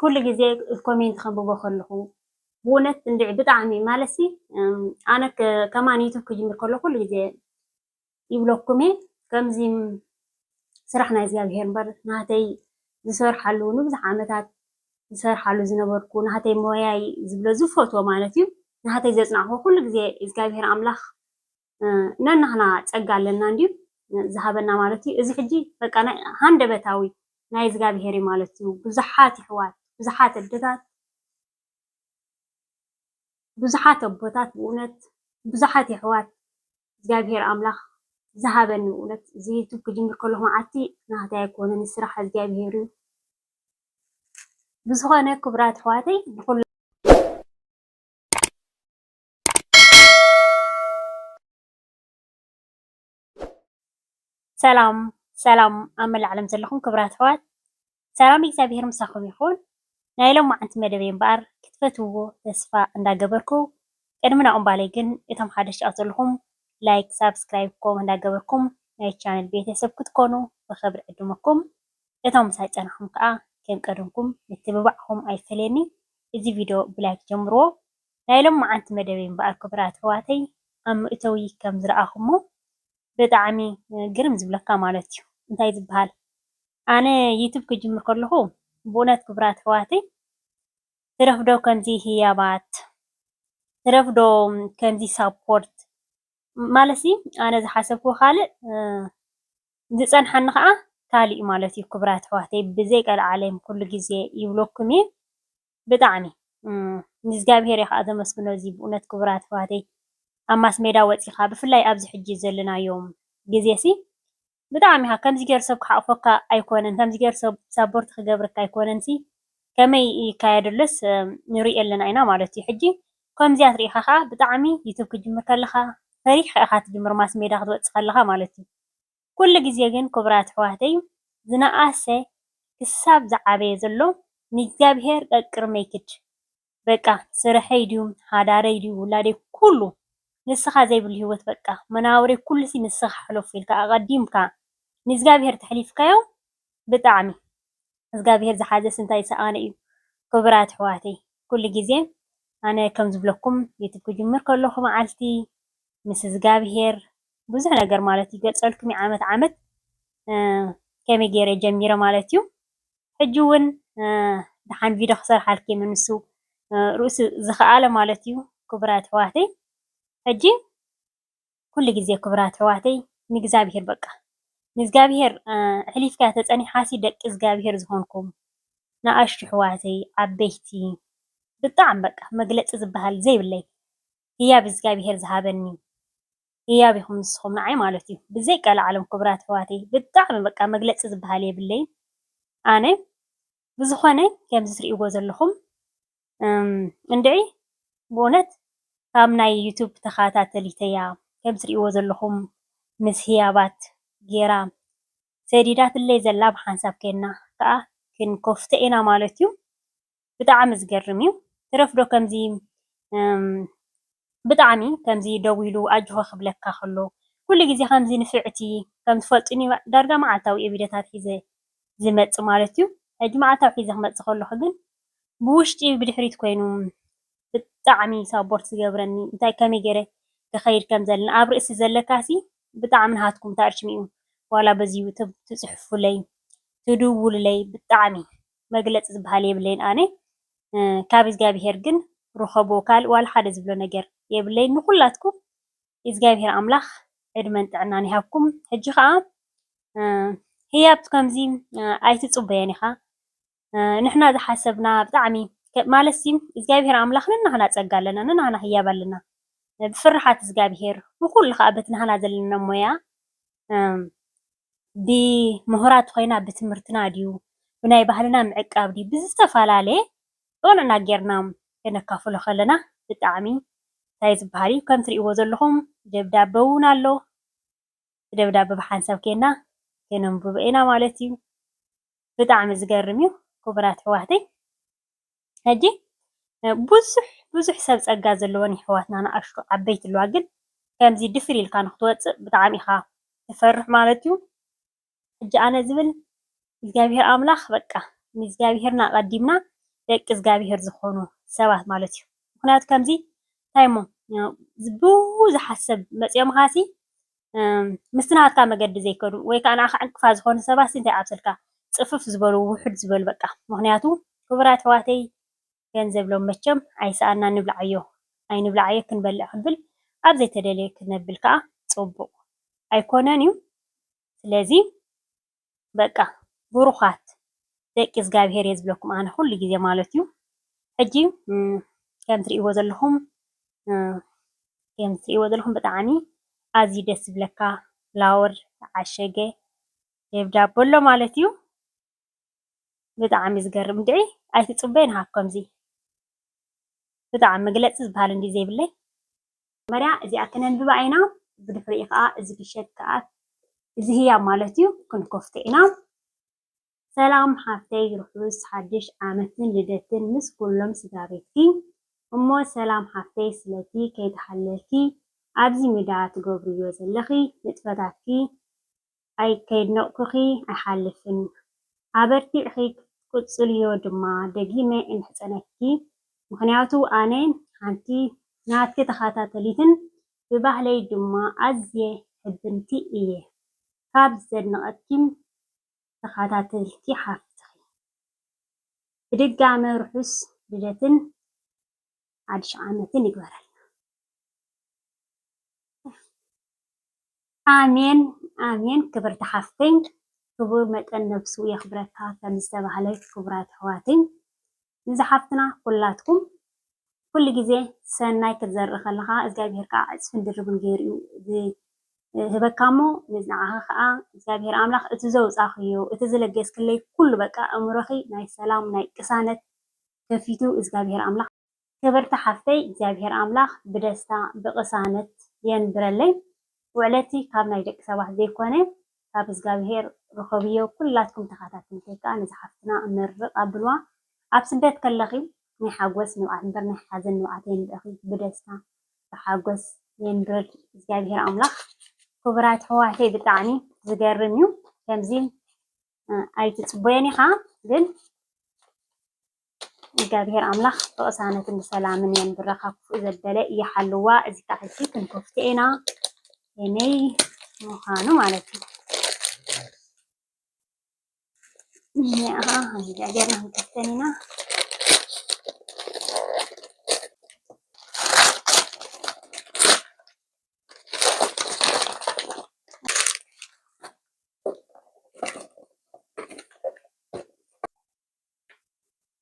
ኩሉ ግዜ ኮሜንት ከንብቦ ከለኹ ብእውነት እንድዒ ብጣዕሚ ማለሲ ኣነ ከማን ዩቱብ ክጅምር ከሎ ኩሉ ግዜ ይብለኩም እየ ከምዚ ስራሕ ናይ እግዚኣብሄር እምበር ናተይ ዝሰርሓሉ ንብዙሕ ዓመታት ዝሰርሓሉ ዝነበርኩ ናተይ ሞያይ ዝብሎ ዝፈትዎ ማለት እዩ ናተይ ዘፅናዕኹ ኩሉ ግዜ እግዚኣብሄር ኣምላኽ ነናህና ጸጋ ኣለና እንድዩ ዝሃበና ማለት እዩ። እዚ ሕጂ በቃ ናይ ሃንደበታዊ ናይ እዝጋብሄር እዩ ማለት እዩ። ብዙሓት ይሕዋት ብዙሓት ኣደታት ብዙሓት ኣቦታት ብእውነት ብዙሓት የሕዋት እግዚኣብሄር ኣምላኽ ዝሃበኒ ብእውነት እዚ ዩቱብ ክጅምር ከለኹ መዓልቲ ናህታይ ኣይኮነን ስራሕ እግዚኣብሄር እዩ። ብዝኾነ ክቡራት ኣሕዋተይ ብኹሉ ሰላም ሰላም ኣብ መላእ ዓለም ዘለኹም ክብራት ኣሕዋት ሰላም እግዚኣብሔር ምሳኹም ይኹን። ናይ ሎማዓንቲ መደበይ እምበኣር ክትፈትውዎ ተስፋ እንዳገበርኩ ቅድሚ ናብኡ ምባለይ ግን እቶም ሓደሽ ትኣትዉ ዘለኹም ላይክ ሳብስክራይብ ኮመንት እንዳገበርኩም ናይ ቻነል ቤተሰብ ክትኮኑ ብኽብሪ ዕድመኩም እቶም ምሳይ ፀናሕኹም ከዓ ከም ቀደምኩም ምትብባዕኹም ኣይፈለየኒ እዚ ቪድዮ ብላይክ ጀምርዎ ናይ ሎማዓንቲ መደበይ እምበኣር ክቡራት ኣሕዋተይ ኣብ መእተዊ ከም ዝረኣኹሞ ብጣዕሚ ግርም ዝብለካ ማለት እዩ እንታይ ዝበሃል ኣነ ዩቱብ ክጅምር ከለኹ ብእውነት ክቡራት ኣሕዋተይ ትረፍዶ ከምዚ ህያባት ትረፍዶ ከምዚ ሳፖርት ማለት ሲ ኣነ ዝሓሰብኩዎ ካልእ ዝጸንሓኒ ከኣ ካልእ ማለት እዩ ክቡራት ኣሕዋተይ ብዘይ ቀልዓለም ኩሉ ግዜ ይብለኩም እየ ብጣዕሚ ንእዝጋብሄር እየ ከኣ ዘመስግኖ እዚ ብእውነት ክቡራት ኣሕዋተይ ኣብ ማስሜዳ ወጺኻ ብፍላይ ኣብዚ ሕጂ ዘለናዮ ግዜሲ ብጣዕሚ ኢኻ ከምዚ ጌሩ ሰብ ክሓቑፈካ ኣይኮነን ከምዚ ጌሩ ሰብ ሳቦርቲ ክገብረካ ኣይኮነንሲ ከመይ ይካየድ ኣሎስ ንርኢ ኣለና ኢና ማለት እዩ ሕጂ ከምዚኣት ርኢኻ ከኣ ብጣዕሚ ዩቱብ ክትጅምር ከለኻ ፈሪሕካ ኢኻ ትጅምር ማስሜዳ ክትወጽእ ከለኻ ማለት እዩ ኩሉ ግዜ ግን ክቡራት ኣሕዋተይ ዝነኣሰ ክሳብ ዝዓበየ ዘሎ ንእግዚኣብሔር ቀቅድመይ ክድ በቃ ስርሐይ ድዩ ሓዳረይ ድዩ ውላደይ ኩሉ ንስኻ ዘይብሉ ህይወት በቃ መናብረይ ኩሉሲ ንስኻ ሕለፎ ኢልካ ኣቀዲምካ ንእግዚኣብሔር ተሕሊፍካዮ ብጣዕሚ እዝጋብሄር ዝሓዘ ስንታይ ሰኣነ እዩ ኩቡራት ኣሕዋተይ ኩሉ ግዜ ኣነ ከም ዝብለኩም ዩቱብ ክጅምር ከለኩ መዓልቲ ምስ እዝጋብሄር ብዙሕ ነገር ማለት ይገልጸልኩም እየ ዓመት ዓመት ከመይ ገይረ ጀሚረ ማለት እዩ ሕጂ ውን ደሓን ቪድዮ ክሰርሓልኪ እየ ምንሱ ርእሱ ዝከኣለ ማለት እዩ ኩቡራት ኣሕዋተይ ሕጂ ኩሉ ግዜ ክብራት ኣሕዋተይ ንእግዚኣብሄር በቃ ንእዝጋብሄር ኣሕሊፍካያ ተጸኒሕካሲ ደቂ እዝጋብሄር ዝኮንኩም ንኣሽቱ ኣሕዋተይ ዓበይቲ ብጣዕሚ በቃ መግለጺ ዝብሃል ዘይብለይ ህያብ እዝጋብሄር ዝሃበኒ ህያብ ኢኩም ንስኩም ንዓይ ማለት እዩ ብዘይቀላዓለም ክብራት ኣሕዋተይ ብጣዕሚ በቃ መግለጺ ዝብሃል የብለይን ኣነ ብዝኾነ ከምዚ ትሪእዎ ዘለኹም እንድዒ ብእውነት ካብ ናይ ዩቱብ ተኸታተሊት እያ ከምዚ ትሪእዎ ዘለኹም ምስ ህያባት ጌራ ሰዲዳትለይ ዘላ ብሓንሳብ ኬና ከኣ ክንከፍቶ ኢና ማለት እዩ ብጣዕሚ ዝገርም እዩ ትረፍዶ ከምዚ ብጣዕሚ ከምዚ ደው ኢሉ ኣጆኻ ክብለካ ከሎ ኩሉ ግዜ ከምዚ ንፍዕቲ ከም ትፈልጡኒ ዳርጋ መዓልታዊ እየ ቪድዮታት ሒዘ ዝመጽእ ማለት እዩ ሕጂ መዓልታዊ ሒዘ ክመጽእ ከለኹ ግን ብውሽጢ ብድሕሪት ኮይኑ ብጣዕሚ ሳቦርት ዝገብረኒ እንታይ ከመይ ጌረ ክኸይድ ከም ዘለና ኣብ ርእሲ ዘለካሲ ብጣዕሚ ንሃትኩም ታርችሚኡ ዋላ በዚ ዩቱብ ትጽሕፉለይ ትድውሉለይ ብጣዕሚ መግለጺ ዝብሃል የብለይን ኣነ ካብ እዝጋቢሄር ግን ርኸቦ ካልእ ዋላ ሓደ ዝብሎ ነገር የብለይን ንኹላትኩም እዝጋቢሄር ኣምላኽ ዕድመን ጥዕናን ይሃብኩም ሕጂ ከኣ ህያብ ከምዚ ኣይትጽበዮን ኢኻ ንሕና ዝሓሰብና ብጣዕሚ ማለትሲ እዝጋቢሄር ኣምላኽ ንናህና ጸጋ ኣለና ንናህና ህያብ ኣለና ብፍርሓት እዝጋቢሄር ንኹሉ ከኣ በቲ ናህና ዘለና ሞያ ብሙሁራት ኮይና ብትምህርትና ድዩ ብናይ ባህልና ምዕቃብ ድዩ ብዝተፈላለየ ዑንዕና ጌርና ከነካፍሎ ከለና ብጣዕሚ ታይ ዝብሃል እዩ ከም ትሪእዎ ዘለኹም ደብዳበ ውን ኣሎ እቲ ደብዳበ ብሓንሳብ ኬንና ከነንብቦ ኢና ማለት እዩ ብጣዕሚ ዝገርም እዩ ክቡራት ኣሕዋተይ። ሕጂ ብዙሕ ብዙሕ ሰብ ጸጋ ዘለወን የሕዋትና ንኣሽቱ ዓበይቲ ኣለዋ ግን ከምዚ ድፍር ኢልካ ንክትወጽእ ብጣዕሚ ኢካ ትፈርሕ ማለት እዩ ሕጂ ኣነ ዝብል እግዚኣብሄር ኣምላክ በቃ ንእግዚኣብሄር ኣቀዲምና ደቂ እዝጋብሄር ዝኮኑ ሰባት ማለት እዩ ምክንያቱ ከምዚ እንታይ እሞ ብዙሓት ሰብ መጽዮምካሲ ምስቲ ናትካ መገዲ ዘይከዱ ወይ ከኣ ንዓኻ ዕንቅፋት ዝኾኑ ሰባትሲ እንታይ ኣብሰልካ ጽፍፍ ዝበሉ ውሕድ ዝበሉ በቃ ምኽንያቱ ክቡራት ኣሕዋተይ ገንዘብ ሎም መቸም ኣይሰኣንናን ንብልዓዮ ኣይንብልዓዮ ክንበልዕ ክንብል ኣብ ዘይተደልየ ክነብል ከኣ ጽቡቕ ኣይኮነን እዩ ስለዚ በቃ ብሩኻት ደቂ እዝጋብሄር እየ ዝብለኩም ኣነ ኩሉ ግዜ ማለት እዩ። ሕጂ ከም ትርእይዎ ዘለኹም ከም ትርእይዎ ዘለኹም ብጣዕሚ ኣዝዩ ደስ ዝብለካ ፍላወር ዝዓሸገ ደብዳቦ ኣሎ ማለት እዩ። ብጣዕሚ ዝገርም ድዒ ኣይትጽበይን ሃብ ከምዚ ብጣዕሚ መግለጺ ዝበሃል እንድዩ ዘይብለይ። መጀመርያ እዚኣ ከነንብባ ኢና ብድሕሪኡ ከኣ እዚ ፍሸት ከኣ እዚ ህያብ ማለት እዩ ክንከፍቶ ኢና። ሰላም ሓፍተይ ርሑስ ሓድሽ ዓመትን ልደትን ምስ ኩሎም ስድራቤትኪ እሞ ሰላም ሓፍተይ ስለቲ ከይተሓለልኪ ኣብዚ ምዳ ትገብርዮ ዘለኺ ንጥፈታትኪ ኣይ ከየድነቕኩኺ ኣይሓልፍን ኣበርቲዕኺ ክትቅጽልዮ ድማ ደጊመ እምሕጸነኪ ምኽንያቱ ኣነ ሓንቲ ናትኪ ተኻታተሊትን ብባህለይ ድማ ኣዝየ ሕብንቲ እየ ካብ ዘድንቐኪም ተኻታተልቲ ሓፍትኺ ብድጋመ ርሑስ ልደትን ሓድሽ ዓመትን ይግበረልና። ኣሜን ኣሜን ክብርቲ ሓፍተይ ክቡር መጠን ነብሱ የኽብረካ ከም ዝተባህለ ክቡራት ኣሕዋተይ ንዚ ሓፍትና ኩላትኩም ኩሉ ግዜ ሰናይ ክትዘርኢ ከለኻ እግዚኣብሄር ከዓ ዕፅፍን ድርብን ገይሩ ዝህበካ እሞ ንዓኻ ከዓ እግዚኣብሄር ኣምላኽ እቲ ዘውፃኽዮ እቲ ዝለገስክለይ ኩሉ በቃ እምሮኺ ናይ ሰላም ናይ ቅሳነት ከፊቱ እዝጋብሄር ኣምላክ ክብርቲ ሓፍተይ እግዚኣብሄር ኣምላክ ብደስታ ብቅሳነት የንብረለይ ውዕለቲ ካብ ናይ ደቂ ሰባት ዘይኮነ ካብ እዝጋብሄር ርኸብዮ ኩላትኩም ተኻታትልቲ ክኣ ነዛ ሓፍትና ምርቅ ኣብልዋ ኣብ ስደት ከለኺ ናይ ሓጎስ ንብዓት እምበር ናይ ሓዘን ንብዓት የንብዕኺ ብደስታ ብሓጎስ የንብርል እግዚኣብሄር ኣምላክ ኩቡራት ኣሕዋተይ ብጣዕሚ ዝገርም እዩ ከምዚ ኣይትፅቦየን ኢኻ ግን እግዚኣብሔር ኣምላኽ ብቕሳነትን ብሰላምን የንብረኻ ክፉእ ዘበለ ይሓልዋ እዚ ከዓ ሕጂ ክንከፍቶ ኢና የመይ ምዃኑ ማለት እዩ እኒኣ እግዚኣብሔር ንክንከፍተን ኢና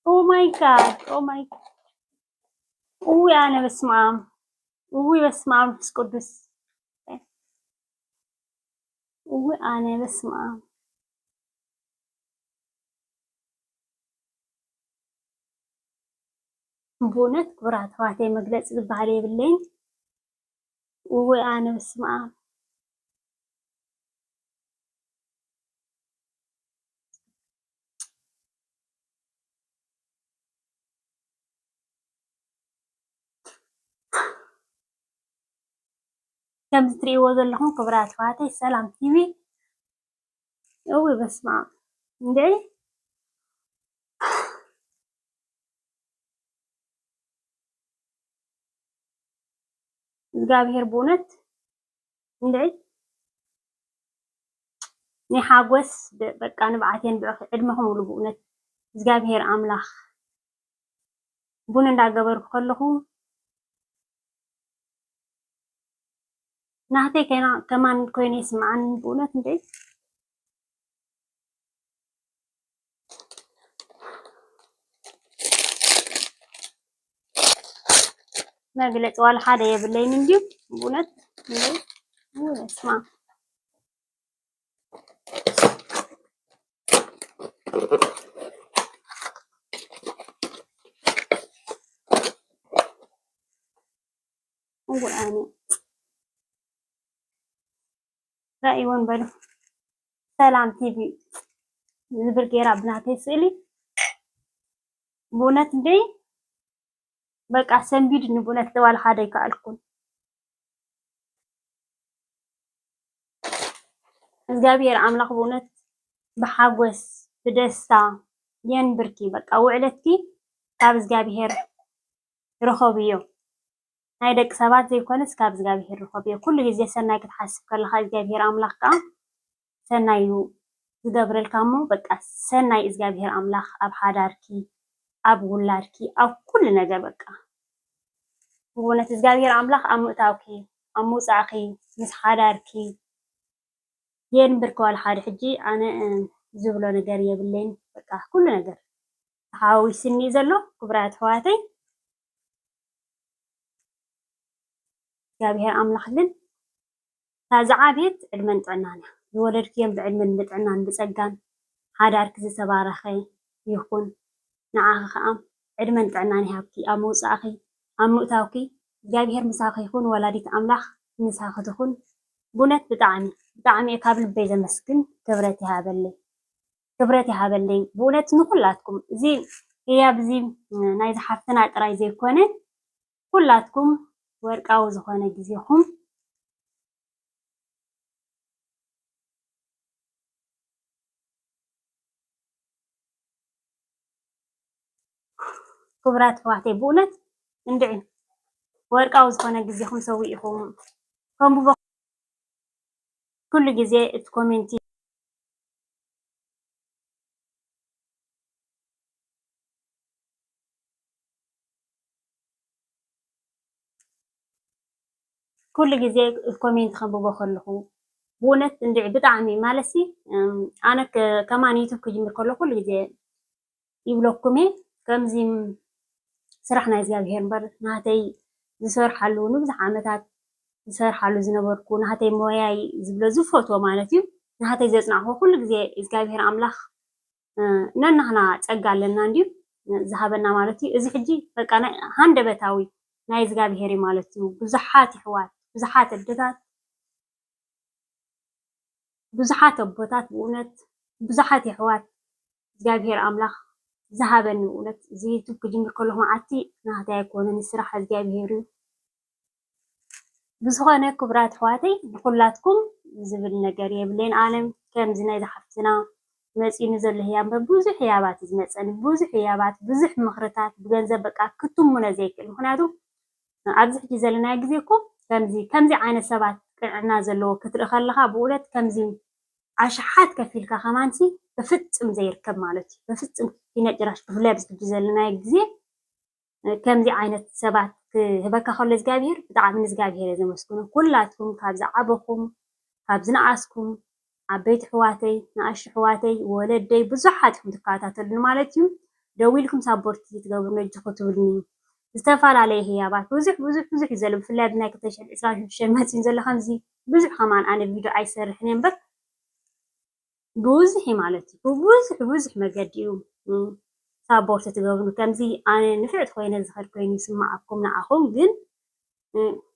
ኦማይ ጋድ ኦማይ እዊ ኣነ በስመ አብ እዊ በስመ አብ መንፈስ ቅዱስ እዊ ኣነ በስመ አብ ብእውነት ክብራት ተዋህቴ መግለፂ ዝበሃል የብለይን። እውይ ኣነ በስመኣም። ከምዚ ትሪእዎ ዘለኹም ክቡራት ኣሕዋተይ ሰላም ቲቪ እውይ በስመኣም እንድዒ እዝጋብሄር ብኡነት ክንደይ ናይ ሓጎስ በቃ ንብዓት የንብዕኺ ዕድመኺ ሙሉ ብኡነት እዝጋብሄር ኣምላኽ ቡን እንዳገበርኩ ከለኹ ናህተይ ከና ከማን ኮይነ ይስምዓኒ ብኡነት እንዴ መግለፂ ዋላ ሓደ የብለይን እንዲሁ እውነት ስማ ወይኔ ራእይወን በሉ ሰላም ቲቪ ዝብል ጌራ ብናተይ ስእሊ ብእውነት እንደ በቃ ሰንቢድኒ ብእውነት ደዋል ሓደ ይከኣልኩን እግዚኣብሔር ኣምላኽ ብእውነት ብሓጎስ ብደስታ የንብርኪ በቃ ውዕለትኪ ካብ እግዚኣብሔር ርኸብዮ ናይ ደቂ ሰባት ዘይኮነስ ካብ እግዚኣብሄር ርኸብዮ። ኩሉ ግዜ ሰናይ ክትሓስብ ከለኻ እግዚኣብሄር ኣምላኽ ከኣ ሰናይ እዩ ዝገብረልካ እሞ በቃ ሰናይ እግዚኣብሄር ኣምላኽ ኣብ ሓዳርኪ ኣብ ውላድኪ ኣብ ኩሉ ነገር በቃ ብእውነት እግዚኣብሄር ኣምላኽ ኣብ ምእታውኪ ኣብ ምውጻዕኪ ምስ ሓዳርኪ የንብርክዋል ሓደ ሕጂ ኣነ ዝብሎ ነገር የብለይን በቃ ኩሉ ነገር ተሓዋዊስኒ ዘሎ ክብራት ኣሕዋተይ እግዚኣብሔር ኣምላኽ ግን እታ ዝዓብየት ዕድመን ጥዕናን እያ። ዝወለድክዮም ብዕድመን ብጥዕናን ብጸጋን ሓዳርኪ ዝተባረኸ ይኹን። ንዓኺ ከኣ ዕድመን ጥዕናን ይሃብኪ። ኣብ ምውጻእኺ ኣብ ምእታውኪ እግዚኣብሔር ምሳኺ ይኹን። ወላዲት ኣምላኽ ምሳኺ ትኹን። ብእውነት ብጣዕሚ ብጣዕሚ እየ ካብ ልበይ ዘመስግን ክብረት ይሃበለይ። ክብረት ይሃበለይ ብእውነት ንኩላትኩም እዚ ህያብ እዚ ናይ ዝሓፍትና ጥራይ ዘይኮነ ኩላትኩም ወርቃዊ ዝኾነ ግዜኹም ክቡራት ኣሕዋተይ ብእውነት እንድዒ ወርቃዊ ዝኾነ ግዜኹም ሰዊኢኹም ከምቡ ኩሉ ግዜ እቲ ኮሜንቲ ኩሉ ግዜ ኮሜንት ከንብቦ ከለኹ ብእውነት እንድዒ ብጣዕሚ ማለትሲ ኣነ ከማን ዩቱብ ክጅምር ከለኹ ኩሉ ግዜ ይብለኩም እየ ከምዚ ስራሕ ናይ እግዚኣብሄር እምበር ናተይ ዝሰርሓሉ ንብዙሕ ዓመታት ዝሰርሓሉ ዝነበርኩ ናተይ ሞያይ ዝብሎ ዝፈትዎ ማለት እዩ ናተይ ዘፅናዕኹ ኩሉ ግዜ እግዚኣብሄር ኣምላኽ ነናህና ፀጋ ኣለና እንድዩ ዝሃበና ማለት እዩ እዚ ሕጂ በቃ ናይ ሃንደበታዊ ናይ እግዚኣብሄር እዩ ማለት እዩ ብዙሓት ይሕዋት ብዙሓት ኣደታት ብዙሓት ኣቦታት ብእውነት ብዙሓት ይሕዋት እግዚኣብሄር ኣምላክ ዝሃበኒ ብእውነት እዚ ዩቱብ ክጅምር ከለኩ መዓልቲ ናተይ ኣይኮነን እዚ ስራሕ እግዚኣብሄር እዩ ብዝኮነ ክብራት ኣሕዋተይ ንኩላትኩም ዝብል ነገር የብለይን ኣነ ከምዚ ናይ ዝሓፍትና መፂኒ ዘሎ ህያብ ብዙሕ ህያባት እዩ ዝመፀኒ ብዙሕ ህያባት ብዙሕ ምክርታት ብገንዘብ በቃ ክትሙነ ዘይክእል ምክንያቱ ኣብዚ ሕጂ ዘለናዮ ግዜ እኮ ከምዚ ከምዚ ዓይነት ሰባት ቅንዕና ዘለዎ ክትርኢ ከለካ ብእውነት ከምዚ ኣሽሓት ከፊልካ ከማንሲ በፍጽም ዘይርከብ ማለት እዩ በፍጽም ኪነ ጭራሽ ብፍላይ ኣብዚ ሕጂ ዘለናዮ ግዜ ከምዚ ዓይነት ሰባት ክህበካ ከሎ እግዚኣብሄር ብጣዕሚ ንእግዚኣብሄር እየ ዘመስግኖ ኩላትኩም ካብ ዝዓበኹም ካብ ዝነኣስኩም ዓበይቲ ኣሕዋተይ ንኣሽቱ ኣሕዋተይ ወለደይ ብዙሓት ኢኹም ትከታተሉኒ ማለት እዩ ደው ኢልኩም ሳፖርት ትገብሩኒ እጅ ክትብሉኒ ዝተፈላለየ ህያባት ብዙሕ ብዙሕ ብዙሕ እዩ ዘሎ ብፍላይ ኣብዚ ናይ ክልተ ሽሕን ዕስራን ሽዱሽተን መጺኡን ዘሎ ከምዚ ብዙሕ ከማን ኣነ ቪድዮ ኣይሰርሕን እየ እምበር ብብዙሕ እዩ ማለት እዩ ብብዙሕ ብብዙሕ መገዲ እዩ ሳቦርት ትገብሩ ከምዚ ኣነ ንፍዕቲ ኮይነ ዝኸድ ኮይኑ ይስማዓኩም ንዓኹም ግን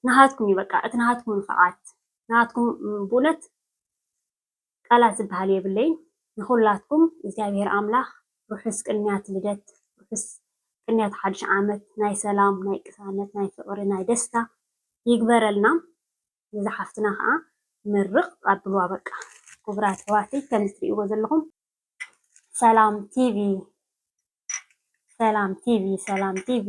ንሃትኩም እዩ በቃ እቲ ንሃትኩም ንፍዓት ንሃትኩም ብእውነት ቃላት ዝብሃል የብለይን ንኩላትኩም እግዚኣብሔር ኣምላክ ርሑስ ቅንያት ልደት ርሑስ ቅንያት ሓድሽ ዓመት ናይ ሰላም ናይ ቅሳነት ናይ ፍቅሪ ናይ ደስታ ይግበረልና ነዛ ሓፍትና ከዓ ምርቅ ኣብልዋ በቃ ኩቡራት ኣሕዋተይ ከምዚ ትሪእዎ ዘለኩም ሰላም ቲቪ ሰላም ቲቪ ሰላም ቲቪ